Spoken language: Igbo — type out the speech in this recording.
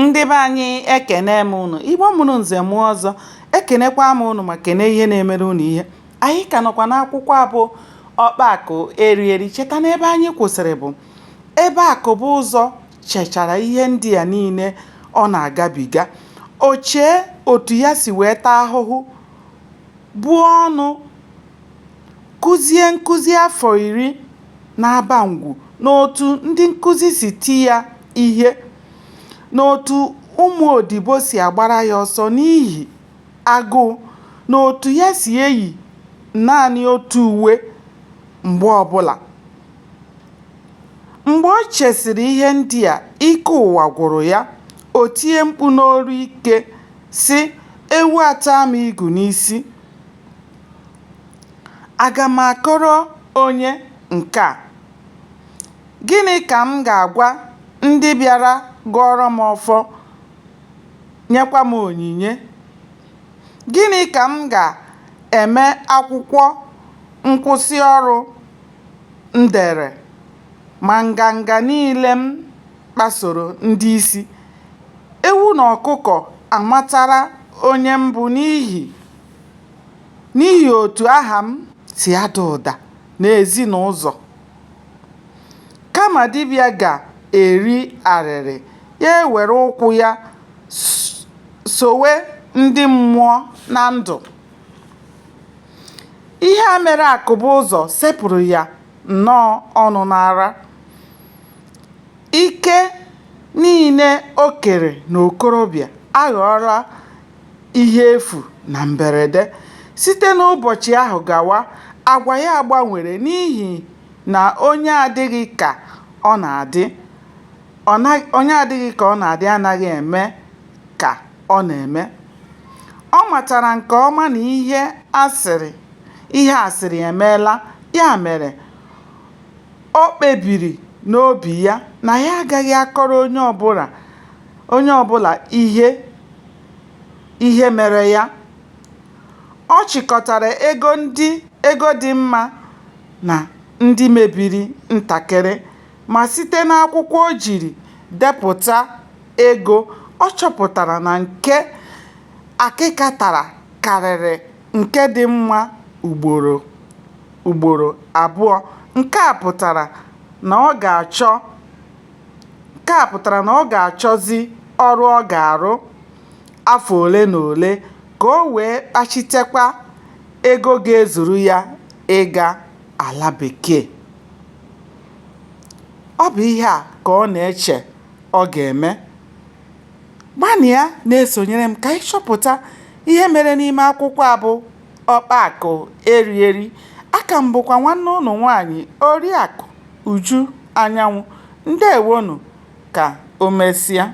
ndị be anyị ekene m unu igbo mụrụ nze mụọ ọzọ ekenekwa m unu ma kene ihe na-emere unu ihe anyị ka nọkwa n'akwụkwọ a bụ ọkpa akụ eri eri cheta na ebe anyị kwụsịrị bụ ebe Akụbụzọ chechara ihe ndị a niile ọ na-agabiga o chee otu ya si wee taa ahụhụ buo ọnụ kuzie nkuzi afọ iri n'Abangwu na otu ndị nkuzi si ti ya ihe na otu ụmụ odibo si agbara ya ọsọ n'ihi agụụ na otu ya si eyi naanị otu uwe mgbe ọbụla. Mgbe o chesịrị ihe ndị a, ike ụwa gwụrụ ya, o tie mkpu n'olu ike sị, Ewu ataa m igu n'isi! Aga m akọrọ onye nke a? Gịnị ka m ga-agwa ndị bịara gọọrọ m ọfọ, nyekwa m onyinye? Gịnị ka m ga-eme akwụkwọ nkwụsị ọrụ m dere ma nganga niile m kpasoro ndị isi. Ewu na ọkụkọ amatala onye m bụ n'ihi n'ihi otu aha m si ada ụda n'ezi na ụzọ. Kama dibịa ga-eri arịrị, ya ewere ụkwụ ya sowe ndị mmụọ na ndụ. Ihe a mere Akụbụzọ sepụrụ ya nnọọ ọnụ n'ara. Ike niile o kere n'okorobịa aghọọla ihe efu na mberede. Site n'ụbọchị ahụ gawa, agwa ya gbanwere n'ihi na onye adịghị ka ọ na-adị onye adịghị ka ọ na-adị anaghị eme ka ọ na-eme. Ọ matara nke ọma na ihe asịrị ihe asịrị emeela, ya mere O kpebiri n'obi ya na ya agaghị akọrọ onye ọbụla onye ọbụla ihe ihe mere ya. Ọ chịkọtara ego ndị ego dị mma na ndị mebiri ntakịrị ma site n'akwụkwọ o jiri depụta ego, ọ chọpụtara na nke akịka tara karịrị nke dị mma ugboro. ugboro abụọ, nke a pụtara na ọ ga-achọ nke a pụtara na ọ ga-achọzi ọrụ ọ ga-arụ afọ ole na ole ka o wee kpachitekwa ego ga-ezuru ya ịga ala bekee. Ọ bụ ihe a ka ọ na-eche ọ ga-eme. Gbalịa na-esonyere m ka anyị chọpụta ihe mere n'ime akwụkwọ a bụ Ọkpa Akụ Eri Eri. Aka m bụkwa nwanne ụnụ nwaanyị Oriakụ Uju Anyanwụ. Ndeewonụ. Ka o mesịa.